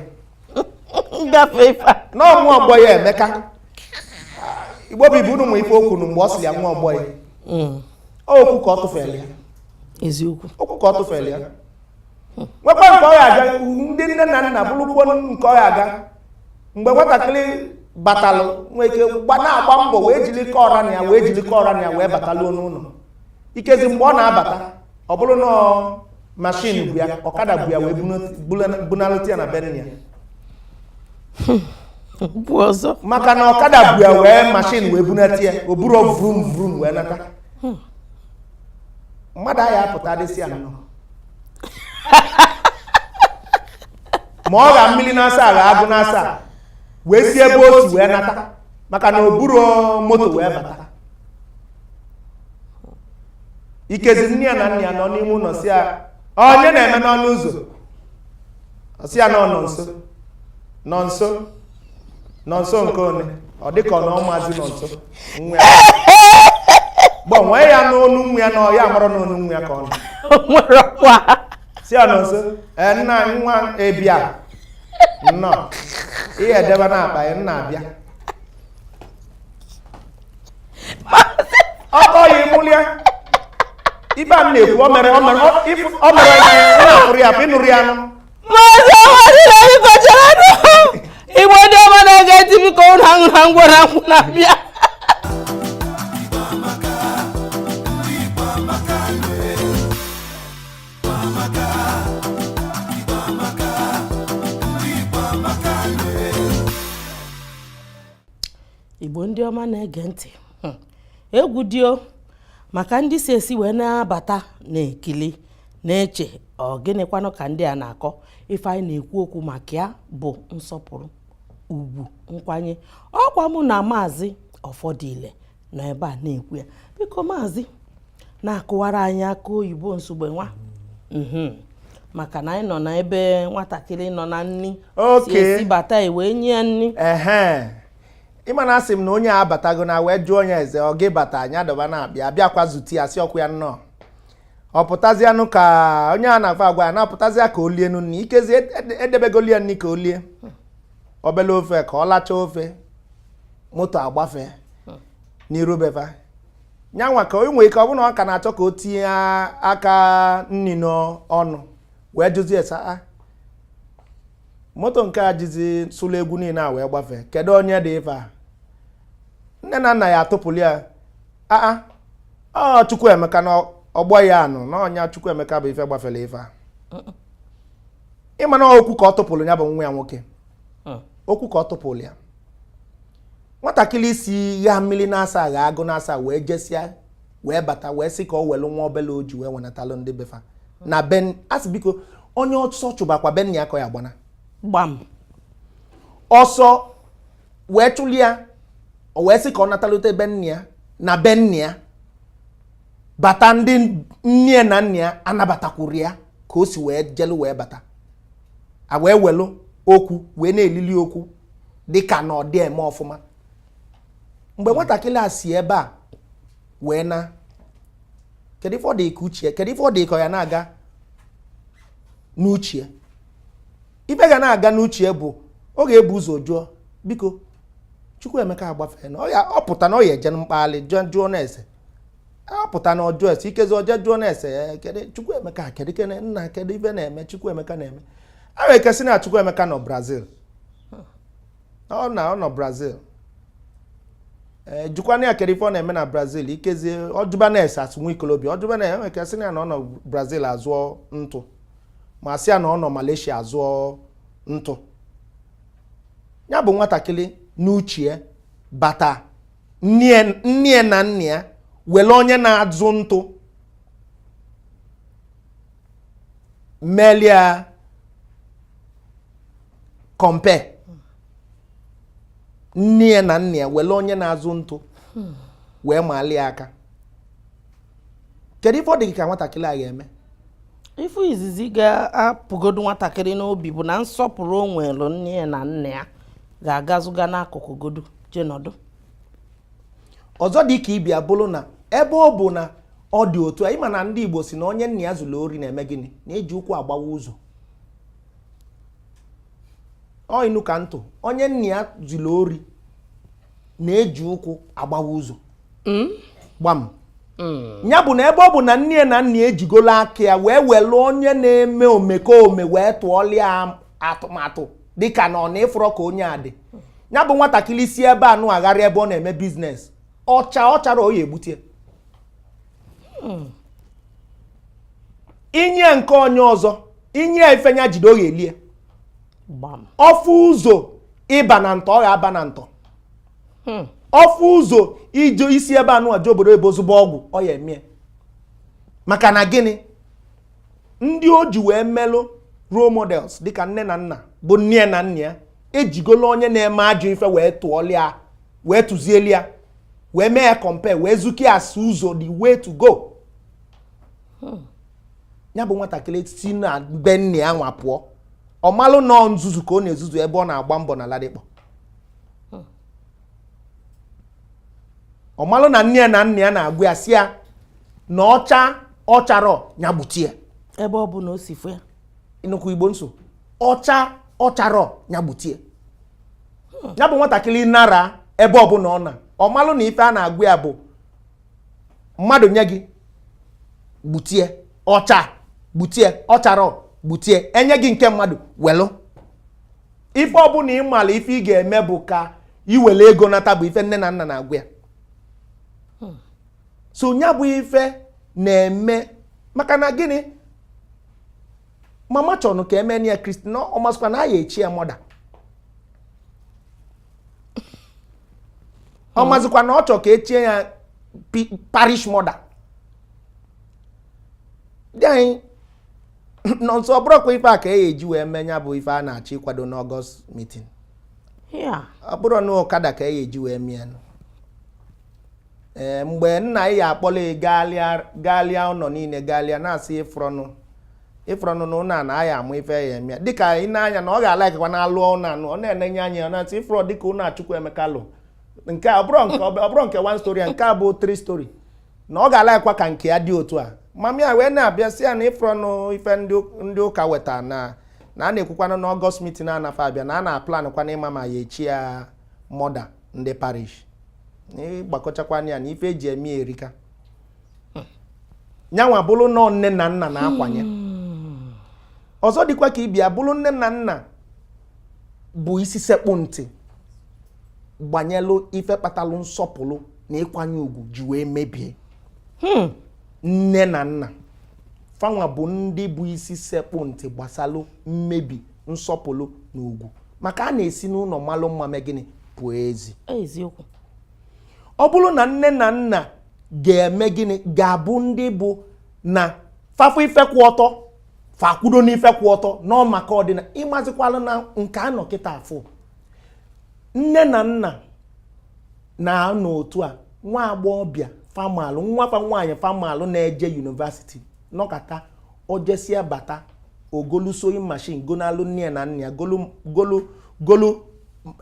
ngafe ife a. na ọ nwa ọgbọ ya Emeka igbo bụ ibu unu nwe ife okwu nu mgbe ọ sị ya nwa ọgbọ ya Mm, okwu ka ọ tụfere ya eziokwu okwu ka ọ tụfere ya nwekwa nke ọ ga-aga ndị nne na nna bụrụkwo nke ọ ga-aga mgbe nwatakịrị batalụ nwee ike na-agba mbọ wee jiri kọọra na ya wee jiri kọọra na ya wee bataluo n'ụnọ ikezi mgbe ọ na-abata ọ bụrụ na mashin bu ya ọkada bu ya wee bunaluta ya na be nna ya maka na ọkada bu ya wee mashin wee bunata ya o buru vrum vrum wee nata mmadụ a ya-apụta dị sị ya nnọọ ma ọ gha mmili na asaa gha agụ na asaa wee si ebe o si wee nata maka na o buru moto wee bata ikezi nne ya na nna ya nọ n'ime ụnọ sị ya onye na-eme n'ọnụ ụzọ ọ sị ya na ọ Nọnso Nọnso Nọnso nke one ọ dị ka ọ na ọ mazi Nọnso nwa ya gbanwee ya n'onu nwa ya na ọ ya-amara n'onu nwa ya ka ọ nụ nwere ọkwa sị ya Nọnso ee nna anyị nwa ị bịa nnọọ ihe e debe na akpa ya nna abịa ọkọ ya ịmụlịa ibe a m na-ekwu o mere o mere o- ifu- o mere ya na ya na-afụrụ ya afụ ị nụrụ ya anụ maazị Ọfọdile biko chere nụ igbo ndị ọma na-ege ntị biko ụnụ aṅụna ngwọ na nkwụ na-abịa igbo ndị ọma na-ege ntị hmm. egwu dị o maka ndị si esi wee na-abata na-ekili na-eche ọ gịnịkwanụ ka ndị a na-akọ ife anyị na-ekwu okwu maka ya bụ nsọpụrụ ugwu nkwanye ọkwa mụ na maazị Ọfọdile nọ ebe a na-ekwu ya biko maazị na-akụwara anyị akị oyibo nsogbe nwa mhm. maka na anyị nọ na ebe nwatakịrị nọ na nni si esi bata wee nye ya nni ị ma na asị m na onye abatago na wee jụọ onye eze ọ gị bata anya adọba na-abịa abịakwa zute ya sịkwuo ya nnọọ ọ pụtazianụ ka onye a na-agwa agwa ya na-apụtazịa ka o lie nụ nni ikezi edebegolụ ya nni ka o lie obele ofe ka ọ lachaa ofe moto agbafe n'iru be fa nya nwa ka o nwee ike ọ bụrụ na ọ ka na-achọ ka o tinye aka nni n'ọnụ wee jụzie ese a moto nke a jizi sụlụ egwu niile a wee gbafee kedu onye dị ife a nne na nna ya atụpụrụ ya aa ọ Chukwuemeka na ọgbọ ya anụ na ọ nya Chukwuemeka bu ife gbafere ife a ị ma na okwu ka ọ tụpụrụ ya bụ nwa ya nwoke okwu ka ọ tụpụrụ ya nwatakịrị si gaa mmiri na-asaa gaa agụ na-asaa wee jesịa wee bata wee sị ka ọ welu nwa obele ọjị wee wenatalụ ndị be fa na be anyị sị biko onye ọsọ chụbakwa be nna ya ka ọ ya-agbana gbam ọsọ wee chụli ya o wee sị ka ọ natalute be nne ya na be nna ya bata ndị nne na nna ya anabatakwurọ ya ka o si wee jelu wee bata e wee welu okwu wee na-elili okwu dịka na ọ dị eme ọfụma mgbe nwatakịrị a si ebe a wee na kedu ife ọ dị ka uche kedu ife ọ dị ka ya na-aga n'uche ife ga na-aga n'uche bụ ọ ga-ebu ụzọ jụọ biko Chukwuemeka agbafee na ọ pụta na ọ ya eje mkpali jụọ na ese ọ pụta na ọ jụọ ese ikezi o je jụọ na ese kedu Chukwuemeka kedu nna kedu ife na-eme Chukwuemeka na-eme e nwee ike sị na Chukwuemeka nọ Brazil ọ na ọ nọ brazil jụkwana ya kedu ife ọ na-eme na brazil ikezie ọ jụba na ese as nwa ikolobia ọ jụba na e nwee ike sị na ọ nọ brazil azụọ ntụ ma sị ya na ọ nọ malaysia azụọ ntụ ya bụ nwatakịrị n'uchie bata nne ya na nna ya were onye na-azụ ntụ melia compare nne ya na nna ya were onye na-azụ ntụ wee maali ya aka kedu ife ọ dị gị ka nwatakịrị a ga-eme ife izizi ga-apụgodu nwatakịrị n'obi bụ na nsọpụrụ o nwere nne ya na nna ya ga-agazuga n'akụkụ godu je nọdụ ọzọ dị ka ibia bụrụ na ebe ọ bụ na ọ dị otu a ị ma na ndị Igbo sị na onye nna ya zilu ori na-eme gịnị na-eji ụkwụ agbawa ụzọ ọ inu ka m tụ onye nna ya zilu ori na-eji ụkwụ agbawa ụzọ hmm? gbam hmm. ya bụ na ebe ọ bụ na nne ya na nna ya ejigolo aka ya wee were onye na-eme omekome wee tụọlịa atụmatụ dịka na ọ na ị fụrọ ka onye a dị ya bụ nwatakịrị si ebe anụwa ghara ebe ọ na-eme biznes ọcha ọ chara ọ ya-ebute i nye ya nke onye ọzọ i nye ya ife ya jide ọ ya-elie gbam ọfụ ụzọ ịba na ntọ ọ ga-aba na ntọ Hmm. ọfụ ụzọ ije isi ebe anụwa je obodo ebe ozugbo ọgwụ ọ ya emie maka na gịnị ndị o ji wee melụ role models dịka nne na nna bụ nne na nna ya ejigolo onye na-eme ajọ ife wee tụọlịa wee tụzielia wee mee ya compare wee zukie as ụzọ the way to go hmm. ya bụ nwatakịrị si na be nne ya nwa pụọ ọ malụ na ọ nzuzu ka ọ na-ezuzu ebe ọ na-agba mbọ na Ladipo ọ malụ na nne ya na nna ya na-agwa ya sị ya na ọ chaa ọ charọ ya gbute ya ebe ọ bụ na o si fụ ya nnukwu igbo nso ọ chaa ọ charọ ya gbute ya ya bụ nwatakịrị nara ebe ọbụla ọ na ọ malụ na ife a na-agwa ya bụ mmadụ nye gị gbutie ọ chaa gbutie ọ charọ gbutie e nye gị nke mmadụ welụ ife ọbụla ị malụ ife ị ga-eme bụ ka i welụ ego nata bụ ife nne na nna na-agwa ya hmm. so nya bụ ife na-eme maka na gịnị mama chọrọ ka e mee ya kristi na ọ mazikwa na a ya-echi ya mother ọ mazikwa na ọ chọrọ ka e chie ya parish mother dị anyị nọ nso ọ bụrụkwa ife a ka e ji wee mee nya bụ ife a na-achọ ịkwado n'August meeting ọ bụrụ na ọkada ka e ji wee mee ya mgbe nna ya akpọla gaalịa ụlọ niile gaalịa na-asị ị fụrọnụ ị fụrọnụ na ụnọ na a ya-amụ ife ya eme dịka ị na-anya na ọ ga-alaikwa na-alụ ụnọ enu ọ na-enenye anya ya na-asị ị fụrọ dịka ụnọ a Chukwuemeka lụ nke a ọ bụrụ nke one storey nke a bụ three storey na ọ ga-alaikwa ka nke ya dị otu a mami ya wee na-abịa sị ya na ị fụrọnụ ife ndị ụka weta na na a na-ekwukwanụ na August meeting a nafe abịa na a na-aplanụkwa na ị ma ma a ya-echi ya mother ndị parish ị gbakọchakwana ya na ife e ji eme ya erika nyanwa bụrụ na ọ nne na nna na-akwanye hmm. ọzọ dịkwa ka ibe ya bụrụ nne na nna bụ isi sekpụ ntị gbanyelụ ife kpatalụ nsọpụrụ na ịkwanye ugwu ji wee mebie hmm. nne na nna fanwa bụ ndị bụ isi sekpụ ntị gbasalụ mmebi nsọpụrụ na ugwu maka a na-esi n'ụnọ malụ mma mee gịnị pụọ ezi eziokwu ọ bụrụ na nne na nna ga-eme gịnị ga-abụ ndị bụ na fa fụ ife kwụ ọtọ fa akwụdo n'ife kwụ ọtọ na ọ maka ọ dị na ị mazịkwalụ na nke a nọ kịta afụ nne na nna na-anọ otu a nwa agbọghọbịa fa malụ nwa fa nwaanyị fa malụ na-eje university nọkata o jesịa bata o golu sewing machine gonalụ nne na nna ya golu golu golu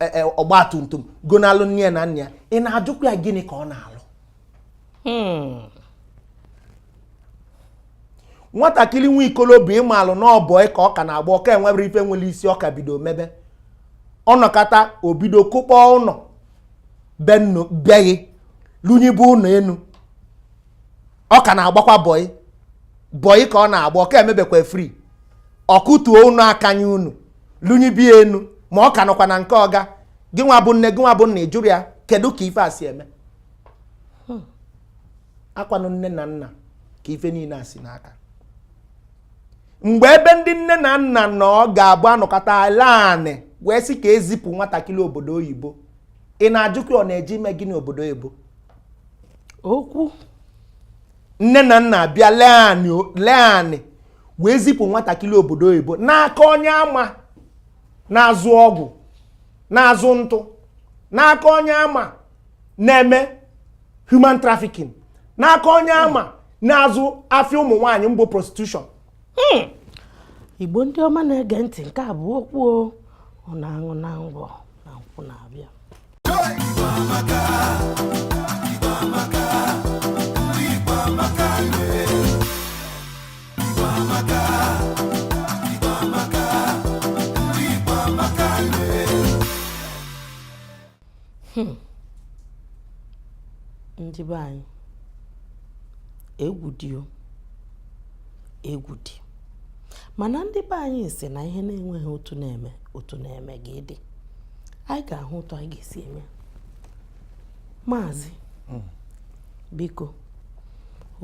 e, e, ọgba tum tum gonalụ nne na nna ya ị na-ajụkwa ya gịnị ka ọ na-alụ hmm. nwatakịrị nwa ikolobịa ị malụ na ọ bọyị ka ọ ka na-agba ọ ka enwebere ife nwere isi ọ ka bido mebe ọ nọkata o bido kụkpọ ụnọ be ghị lunyibe ụnọ enu ọ ka na-agbakwa bọyị bọyị ka ọ na-agba ọ ka emebekwa free ọ kụtuo ụnọ akanya unu lunyibe enu ma ọ ka nọkwa na nke ọga gị nwa bụ nne gị nwa bụ nna ị jụrụ ya kedu ka ife a si eme hmm. akwanụ nne na nna ka ife niine a si n'aka mgbe ebe ndị nne na nna nọ ga-abụ a nọkata lee anị wee sị ka e zipụ nwatakịrị obodo oyibo ị na-ajụkwa ọ na-eje ime gịnị obodo oyibo okwu nne na nna bịa lee anị wee zipụ nwatakịrị obodo oyibo n'aka onye a ma na-azụ ọgwụ na-azụ ntụ n'aka onye a ma na-eme human trafficking n'aka onye a ma na-azụ afịa ụmụ nwaanyị mbụ prostitution hmm. igbo ndị ọma na-ege ntị nke a bụ okwu ọ na-aṅụ na ngwọ na nkwụ na-abịa hmm. ndị be anyị egwu dị egwu dị mana ndị be anyị si na ihe na-enweghị otu a na-eme otu a na-eme gị dị anyị ga-ahụ otu anyị ga-esi eme maazị hmm. biko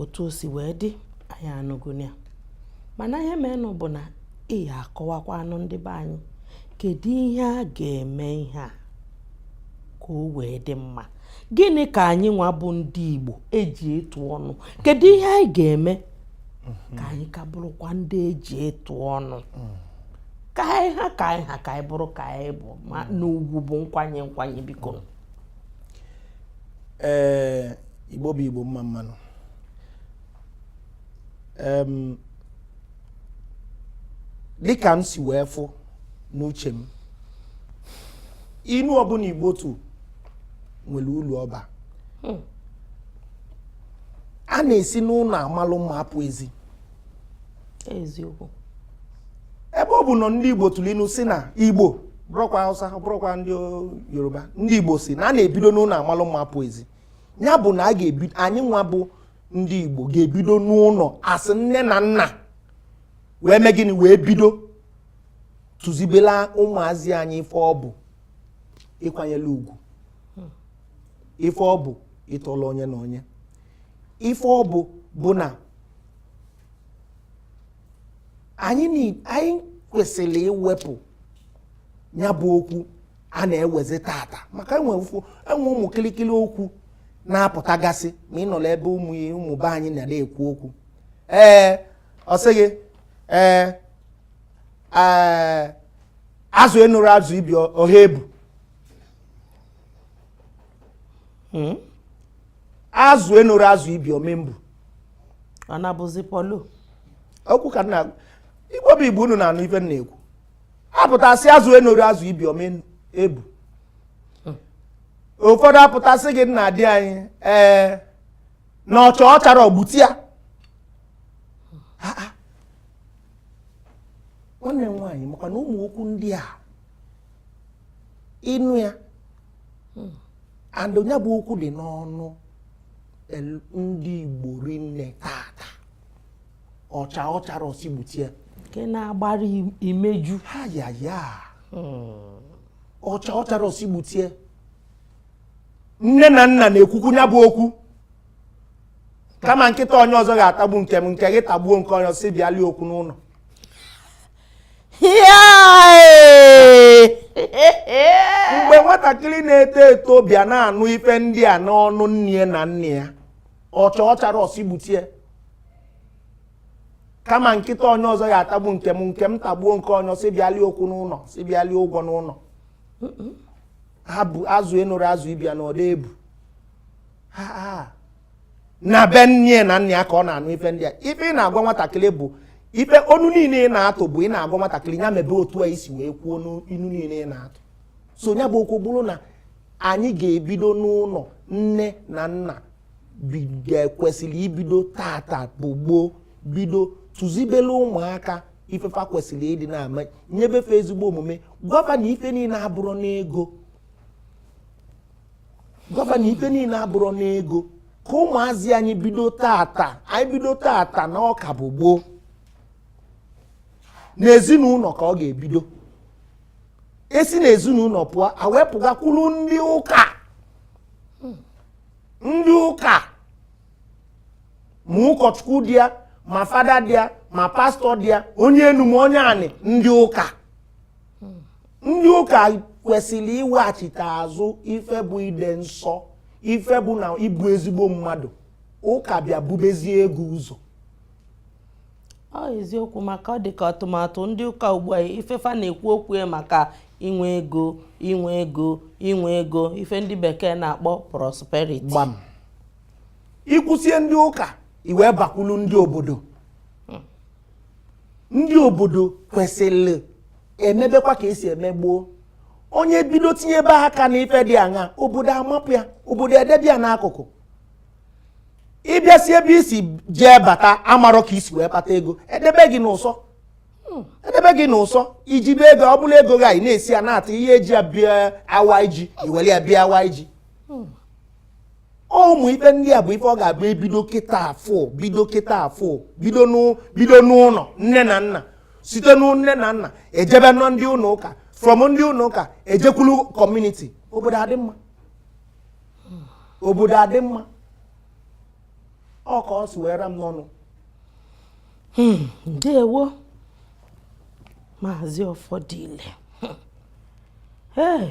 otu o si wee dị anyị anụgonụ ya mana ihe meenụ bụ na ị ya akọwakwaanụ ndị be anyị kedu ihe a ga-eme ihe a ka o wee dị mma gịnị ka anyị nwa bụ ndị Igbo e ji etu ọnụ kedu ihe anyị ga-eme mhm. ka anyị ka bụrụkwa ndị e ji etu ọnụ mm. ka anyị ha ka anyị ha ka anyị bụrụ ka anyị bụ ma mm. na ugwu bụ nkwanye nkwanye biko mm. ee eh, Igbo bụ Igbo mma mma nụ dịka m si wee fụ n'uche m inu ọbụna igbo tụ nwere ulu ọ ba hmm. a na-esi n'ụnọ amalụ mma apụ ezi eziokwu ebe ọ bụ na ndị igbo tụlụ inu si na igbo bụrụkwa hausa bụrụkwa ndị yoruba ndị igbo si na a na-ebido n'ụnọ amalụ mma apụ ezi nya bụ na anyị nwa bụ ndị Igbo ga-ebido n'ụnọ asị nne na nna wee mee gịnị wee bido tụzibela ụmụazị anyị ife ọ bụ ịkwanyela ugwu ife ọ bụ ịtọla onye na onye ife ọ bụ bụ na anyị kwesịlị iwepụ nya bụ okwu a na-ewezi tata maka e nwee ụmụ kịlịkịlị okwu na-apụtagasị ma ị nọlụ ebe ụmụ be anyị na-ekwu okwu ee ọ sị gị ee azụ enorọ azụ ibe ya ọ ma-ebu hmm? azụ enorọ azụ ibe ya ọ ma-ebu ọ na-abụzi mkpụlụ okwu ka na Igbo bụ Igbo unu na-anụ ife m na-ekwu apụta sị azụ enorọ azụ ibe ya ọ ma-ebu ụfọdụ apụta sị gị nna di anyị ee na ọ chaa ọ charọ gbute ya nwanne m nwaanyị makwa na ụmụ okwu ndị a ị nụ ya and nya bụ okwu dị n'ọnụ ndị Igbo rinne tata ọ chaa ọ charọ ọ sị gbute ya nke na-agbara imeju ha ya ya hmm. ọ chaa ọ charọ ọ sị gbute ya nne na nna na-ekwukwu nya bụ okwu kama nkịta onye ọzọ ga-atagbu nke m nke gị tagbuo nke onye si bịali okwu n'ụnọ mgbe nwatakịrị na-eto eto bịa na-anụ ife ndị a n'ọnụ nne na nna ya ọ chaa ọ charọ ọ sị gbute ya kama nkịta onye ọzọ ya-atagbu nke m nke m tagbuo nke onye si bịali okwu n'ụnọ si bịali ụgwọ n'ụnọ ha bụ azụ enorọ azụ ibe ya na ọ da-ebu na be nne na nna ya ka ọ na-anụ ife ndị a ife ị na-agwa nwatakịrị bụ ife inu niine ị na-atụ bụ ị na-agwa nwatakịrị ya mebe otu a i si wee kwuo n'inu niine ị na-atụ so ya bụ okwu bụrụ na anyị ga-ebido n'ụnọ nne na nna kwesịlị ibido tata bụ gboo bido tụzibele ụmụaka ife fa kwesịlị ịdị na-ama nyebe fa ezigbo omume gwa fa na ife niine abụrọ n'ego gwa fa na ife niine abụrọ n'ego ka ụmụazị anyị bido tata anyị bido tata na ọ ka bụ gboo n'ezinụnọ ka ọ ga-ebido e si na ezinụlọ pụọ a wee pụgakwuru ndị ụka ndị ụka ma ụkọchukwu dị ya ma fada dị ya ma pastọ dị ya onye enu ma onye anị ndị ụka ndị ụka kwesịrị iweghachite azụ ife bụ ịdị nsọ ife bụ na ịbụ ezigbo mmadụ ụka bịa bubezie ego ụzọ ọ eziokwu maka ọ dịka atụmatụ ndị ụka ugbu a ife fa na-ekwu okwu ya maka inwe ego inwe ego inwe ego ife ndị bekee na-akpọ prosperity gbam i kwusie ndị ụka i wee bakwulu ndị obodo ndị obodo kwesịrị emebekwa ka e si eme gboo onye bido tinyebe aka n'ife dị aṅa obodo amapụ ya obodo edebe ya n'akụkụ ị bịa si ebe i si jee bata amarọ ka i si wee kpata ego edebe gị n'ụsọ hmm. edebe gị n'ụsọ i jibe ego ọ bụla ego gị anyị na-esi ya na-ata ihe e ji ya bịa awa iji i were ya bịa awa iji hmm. ụmụ ife ndị a bụ ife ọ ga-abụ e bido kịta afụ bido kịta afụ bido n'ụlọ nne na nna site n'ụ nne na nna ejebe nọ ndị ụlọ ụka from ndị ụlọ ụka ejekwulu community obodo adị mma obodo adị mma ọ ka o si were m n'ọnụ hmm, ndewo maazị ọfọdile ee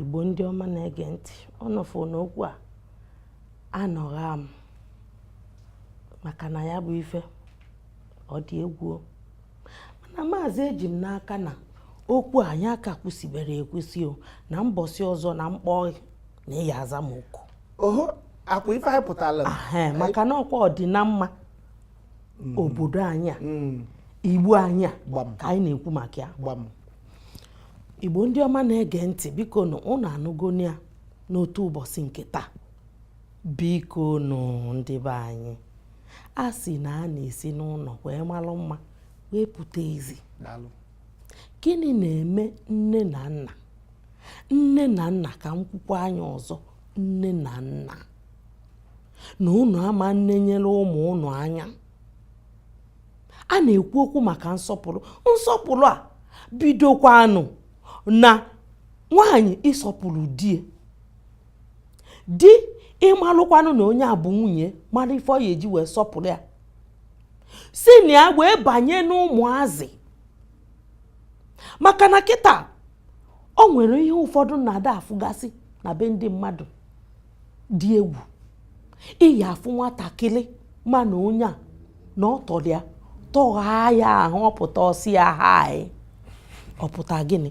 igbo ndị ọma na-ege ntị ọnọfụ n'okwu a anọgha m maka na ya bụ ife ọ dị egwu mana maazị eji m n'aka na okwu anyị aka kwusibere ekwusi o na mbọsị ọzọ na m kpọọ na ị ya aza m oku oho ọkwa ife anyị pụtara maka na ọkwa ọdịna mma mm. obodo anyị a mm. igbo anyị a ka anyị na-ekwu maka ya igbo ndị ọma na-ege ntị biko nụ ụnụ anụgonụ ya n'otu ụbọsị nke taa biko nụ ndị be anyị a sị na a na-esi n'ụlọ wee malụ mma wee pụta ezi gịnị na-eme nne na nna nne na nna ka m kwukwaa nya ọzọ nne na nna na ụnụ ama nenyere ụmụ ụnụ anya a na-ekwu okwu maka nsọpụrụ nsọpụrụ a bidokwanụ na nwaanyị ịsọpụrụ di di ịmalụkwanụ na onye a bụ nwunye malụ ife ọ ya-eji wee sọpụlụ ya si na ya wee banye n'ụmụazị maka na kịta o nwere ihe ụfọdụ na-ada afụgasị na be ndị mmadụ dị egwu ị ya-afụ nwatakịlị ma na onye a na ọ tọlụ ya tọghaa ya ahụ ọ pụta ọ sị ya hi ọ pụta gịnị